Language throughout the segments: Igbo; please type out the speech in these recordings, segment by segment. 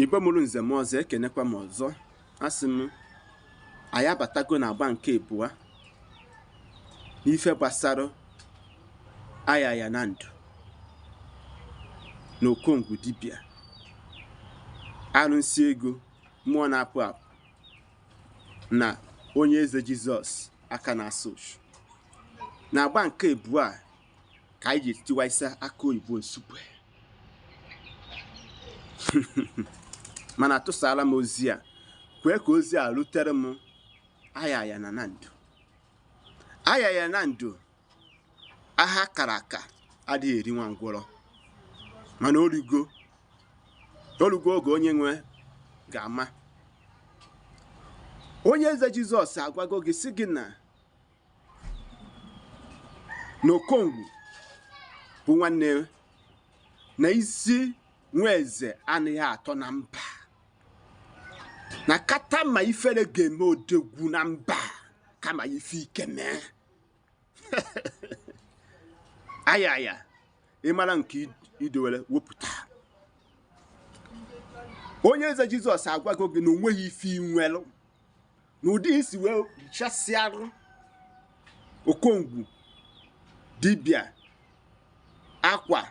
igbo mụrụ nze mụọ ọzọ ekenekwa m ọzọ asị m anyị abatago na agba nke ịbụa n'ife gbasara ayaya na ndụ na okongwu dibịa arụsị ego mmụọ na-apụ apụ na onye eze jizọs aka na-asa uchu na agba nke ịbụa ka anyị ji tiwaisa aka oyibo nsukwe mana atụsaala m ozi a kwee ka ozi a rutere m ayaya na na ndụ ayaya na ndụ aha a kara aka adịghị eri nwa ngwọrọ mana o rugo o rugo oge onye nwe ga-ama onye eze jizọs agwago gị sị gị na na okongwu bụ nwanne na isi nwa eze anaghị atọ na mba na kata ma ifere ga-eme odogwu na mba kama ife ike mee ayaya ị mara nke i dowere wepụta onye eze jizọs agwago gị na o nweghị ife i nwelụ na ụdị i si wee chasịarụ okongwu dibịa akwa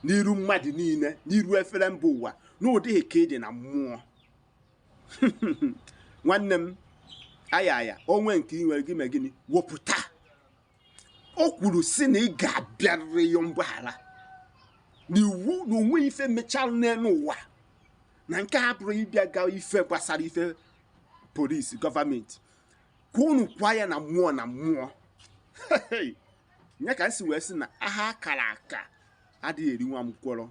n'iru mmadụ niile n'iru efere mba ụwa na ụdị ike ị dị na mmụọ nwanne m ayaya o nwee nke ị nwere gị megịnị wepụta o kwuru sị na ị ga-abịarịrị yọọ mgbaghara na iwu na o nwee ife mechara n'elu ụwa na nke a abụrọ ịbịa gaa ife gbasara ife police government ka unu kwaa ya na mmụọ na mmụọ nya ka m si wee sị na aha a kara aka adịghị eri nwa ngwọrọ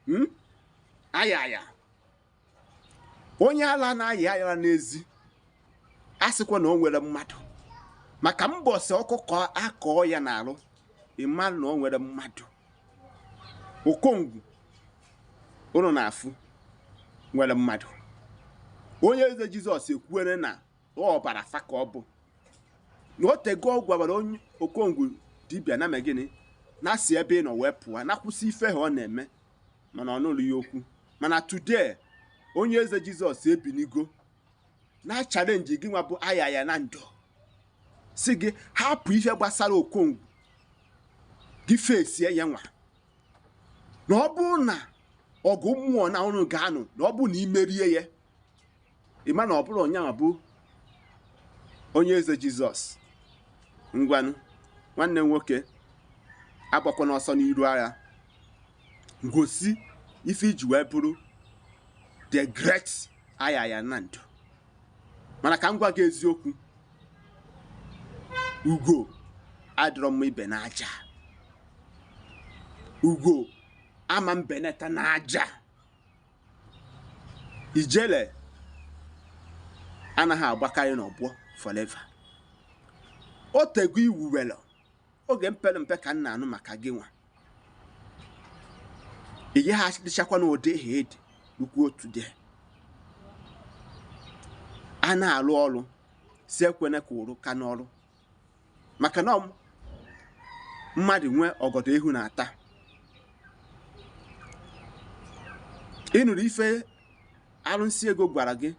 hmm? ayaya onye ala na-ayị ayara n'ezi asịkwa na o nwerọ mmadụ maka mbọsị ọkụkọ akọọ ya n'arụ ị mara na o nwere mmadụ okongwu ụnụ na-afụ nwere mmadụ onye eze jizọs ekwuere na ọbara fa ka ọ bụ na o tego ọ gwabara okongwu dibịa na megịnị na si ebe ị nọ wee pụọ na kwụsị ife a ọ na-eme mana ọ nụrọ ya okwu mana today onye eze jizọs ebinigo na challenge gị nwa bụ ayaya na ndụ sị gị hapụ ihe gbasara okongwu gị fesie ya nwa na ọ bụrụ na ọgụ mmụọ na ụnụ ga-anụ na ọ bụrụ na i merie ya ịma na ọ bụrụ onye anwa bụ onye eze jizọs ngwanụ nwanne nwoke agbakwana ọsọ n'iru agha ngosi ife i ji wee bụrụ the great aya ya na ndụ mana ka m gwa gị eziokwu ugo adịrọ mma ibe n'aja ugo ama mbeneta n'aja ijele anaghị agbakarị n'ọgbọ forever o tego iwu were oge mpere mpe ka m na-anụ maka gịnwa ị gaghị adịchakwa n'ụdị ha edi nnukwu otu dị a na-alụ ọrụ si ekwene ka ụrụ ka n'ọrụ maka na mmadụ nwee ọgọdọ ihu na-ata ị nụrụ ife arụsị ego gwara gị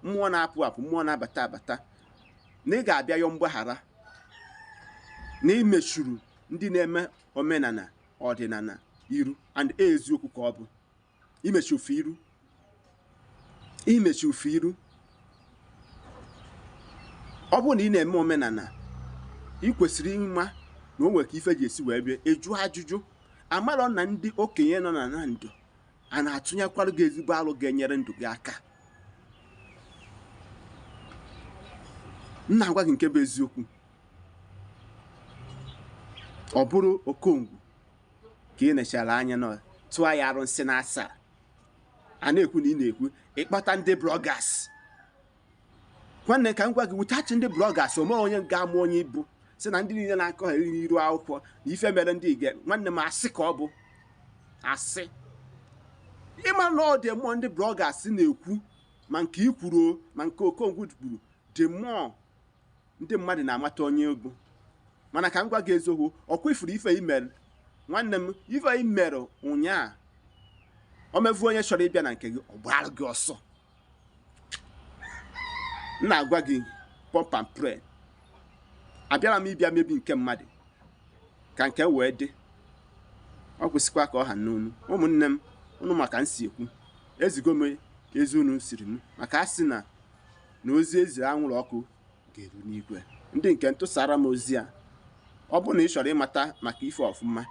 mmụọ na-apụ apụ mmụọ na-abata abata na ị ga-abịa yọọ mgbaghara na i mechuru ndị na-eme omenala ọdịnala iru and eziokwu ka ọ bụ i mechuo fa iru i mechuo fa iru ọ bụrụ na ị na-eme omenala ị kwesịrị ịma na o nwere ka ife ji esi wee bịa ịjụ ajụjụ amarọ na ndị okenye nọ na na ndụ a na-atụnyekwara gị ezigbo alo ga-enyere ndụ gị aka m na-agwa gị nke bụ eziokwu ọ bụrụ okongwu ka ị nechara anya na tụọ ya arụsị na asaa a na-ekwu na ị na-ekwu ị kpọta ndị bloggers nwanne ka m gwa gị without ndị bloggers o nwe onye ga-ama onye ị bụ si na ndị niile na-akọ ha eriri iru akwụkwọ na ife mere ndị ige nwanne m asị ka ọ bụ asị ịma na ọ dị mmụọ ndị bloggers na-ekwu ma nke i kwuru ma nke okongwu kwuru dị mmụọ ndị mmadụ na-amata onye ị bụ mana ka m gwa gị eziokwu ọ kwa ị furu ife i mere nwanne m ife i mere ụnyaa o mevu onye chọrọ ịbịa na nke gị ọ gbara gị ọsọ m na-agwa gị pump and plain abịarọ m ịbịa mebi nke mmadụ ka nke wee dị ọ kwụsịkwa ka ọ ha n'onu ụmụnne m ụnụ ma ka m si ekwu ezigo m ozi unu ziri m maka a sị na na ozi e ziri anwụrụ ọkụ ga-eru n'igwe ndị nke ntụsara m ozi a ọ bụrụ na ị chọrọ ịmata maka ife ọfụma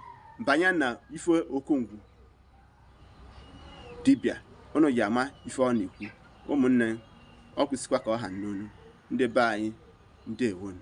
banye na ife okongwu dibịa ụnụ ya-ama ife ọ na-ekwu ụmụnne ọ kwụsịkwa ka ọ ha n'onu ndị be anyị ndewonu